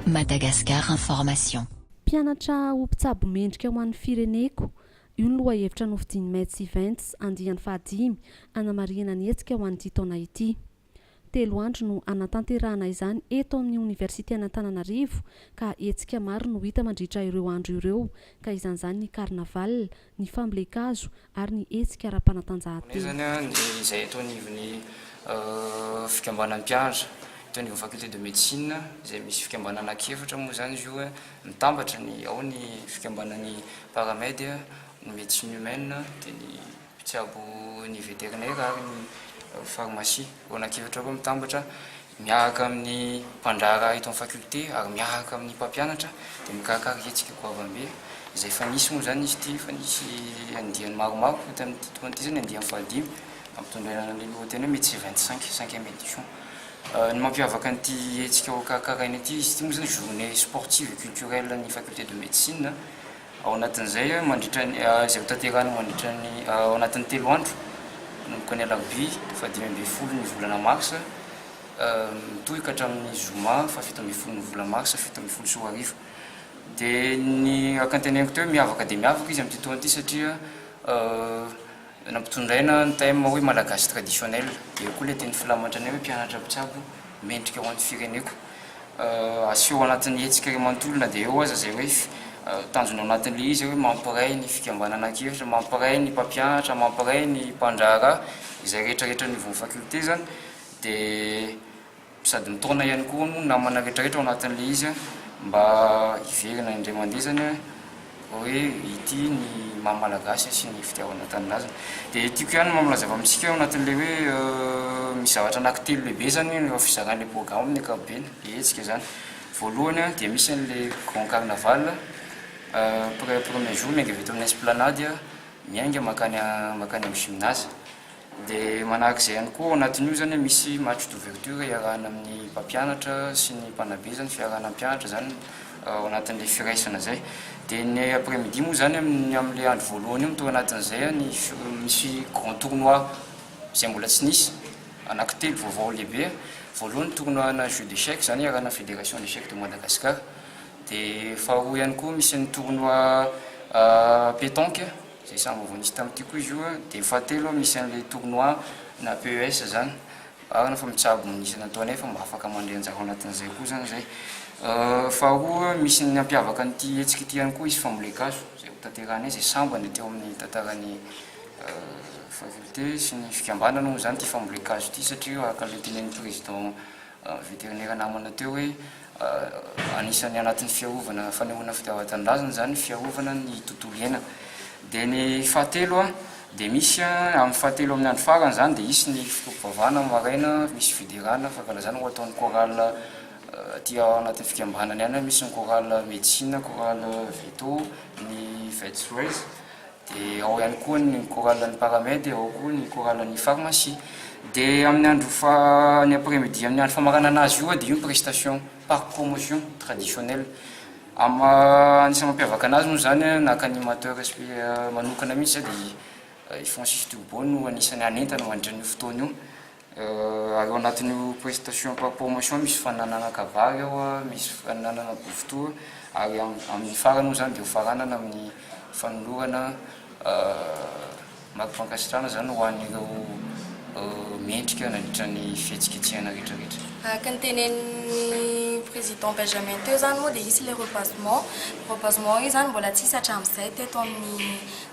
Madagascar Information. Mpianatra ho mpitsabo mendrika ho an'ny fireneko, io ny lohahevitra nofidian'ny Mets Events andiany fahadimy hanamarihana ny hetsika ho an'ity taona ity. Telo andro no hanatanterahana izany eto amin'ny Oniversiten'Antananarivo ka hetsika maro no hita mandritra ireo andro ireo ka izan'izany ny carnaval, ny fambolen-kazo ary ny hetsika ara-panatanjahantena. Fanomezana ny izay eto anivon'ny fikambanan'ny mpianatra eto anivon'ny Faculté de Médecine izay misy fikambanana anankiefatra moa izany izy io, mitambatra ny ao ny fikambanan'ny Paramed, ny Médecine Humaine dia ny. mpitsabo ny veterinera ary ny farmasia ao anaty efitra roa mitambatra miaraka amin'ny mpandraharaha eto amin'ny faculté ary miaraka amin'ny mpampianatra dia mikarakara hetsika goavambe izay efa nisy moa izany izy ity, efa nisy andiany maromaro koa tamin'ity taona ity, izay ny andiany fahadimy nampitondraina ny lohateny hoe Metsy vingt cinq, cinquième édition. Ny mampiavaka an'ity hetsika hokarakaraina ity, izy ity moa izany journée sportive et culturelle ny faculté de médecine, Ao anatin'izay, mandritra ny, izay hotanterahina mandritra ny, ao anatin'ny telo andro, manomboka ny alarobia fahadimy ambin'ny folo ny volana marsa, mitohy ka hatramin'ny zoma fahafito ambin'ny folo ny volana marsa fito ambin'ny folo sy roa arivo. Dia ny raha kanteneniko teo hoe miavaka dia miavaka izy amin'ity taona ity satria. Nampitondraina ny thème hoe Malagasy traditionnel. Eo koa ilay teny filamatra anay hoe mpianatra mpitsabo mendrika ho an'ny fireneko. Aseho ao anatin'ny hetsika iray manontolo na dia eo aza izay hoe tanjona ao anatin'ilay izy hoe mampiray ny fikambanana an-kevitra, mampiray ny mpampianatra, mampiray ny mpandraharaha, izay rehetrarehetra anivon'ny faculté izany dia Sady mitaona ihany koa moa ny namana rehetra rehetra ao anatin'ilay izy a, mba hiverina indray mandeha izany a, hoe ity ny maha Malagasy sy ny fitiavana tanindrazana. Dia tiako ihany mampalaza avy amintsika ao anatin'ilay hoe misy zavatra anankitelo lehibe izany eo amin'ny fizarana ilay programme amin'ny ankapobeny, ilay hetsika izany. Voalohany a, dia misy an'ilay grand carnaval a, pre- premier jour miainga avy eto amin'ny esplanade a, miainga mankany mankany amin'ny gymnase. Dia manahaka izay ihany koa ao anatin'io izany hoe misy match d'ouverture iarahana amin'ny mpampianatra sy ny mpanabe izany, fiarahana hampianatra izany ao anatin'ilay firaisana izay. Dia ny après midi moa izany amin'ny amin'ilay andro voalohany io no tao anatin'izay ny misy grand tournoi izay mbola tsy nisy, anankitelo vaovao lehibe. Voalohany ny tournoi ana jeux d'échecs izany iarahana amin'ny fédération d'échecs de Madagascar. Dia faharoa ihany koa misy ny tournoi pétanque. Zay samy vaovao nisy tamin'ity koa izy io a. Dia fahatelo misy an'ilay tournoi na PES zany. Marina fa mitsabo ny isa nataonay fa mba afaka mandray anjara ao anatin'izay koa zany zay. Faharoa misy ny nampiavaka an'ity hetsika ity ihany koa izy fambolen-kazo zay ho tanterahanay zay sambany teo amin'ny tantaran'ny faculté sy ny fikambanana hono zany ity fambolen-kazo ity satria araka ny tenenin'ny président Veterinera namana teo hoe anisan'ny anatin'ny fiarovana fanehoana fitiavan-tanindrazana izany ny fiarovana ny tontolo iainana. Dia ny fahatelo a, dia misy a, amin'ny fahatelo amin'ny andro farany izany dia hisy ny fotoam-pivavahana amin'ny maraina, misy fiderana, fankalazana ho ataon'ny chorale aty ao anatin'ny fikambanana ihany, misy ny chorale medecine, chorale veto, ny vets rays. Dia ao ihany koa ny chorale-n'ny paramed, ao koa ny chorale-n'ny pharmacie. Dia amin'ny andro faha, ny après midi amin'ny andro famaranana azy io dia io ny prestation par promotion traditionnelle. Am, anisan'ny mampiavaka anazy moa izany an, naka animateur espe, manokana mihintsy dia Francis Turbo no anisan'ny hanentana mandritra an'io fotoana io. Ary ao anatin'io prestation par promotion misy fananana kabary ao, misy fananana bofotoa, ary amin'ny farany moa izany dia hofaranana amin'ny fanolorana marika fankasitrahana izany ho an'ireo mendrika nandritra ny fihetsiketsehana rehetrarehetra. Araka ny tenenin'ny Président Benjamin teo izany moa dia hisy ilay rebasement, rebasement io izany mbola tsy hisy hatramin'izay teto amin'ny.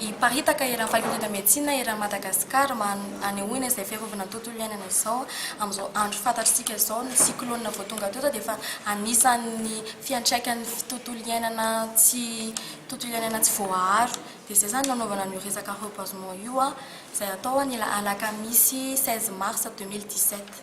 Hiparitaka eran'ny Faculté de Médecine eran'i Madagasikara mba hanehoana izay fiarovana ny tontolo iainana izao amin'izao andro fantatr'isika izao ny cyclone vao tonga teto dia efa anisan'ny fiantraikan'ny tontolo iainana tsy tontolo iainana tsy voaaro dia izay izany no nanaovana an'io resaka reboisement io izay hatao ny alakamisy seize mars deux mille dix sept.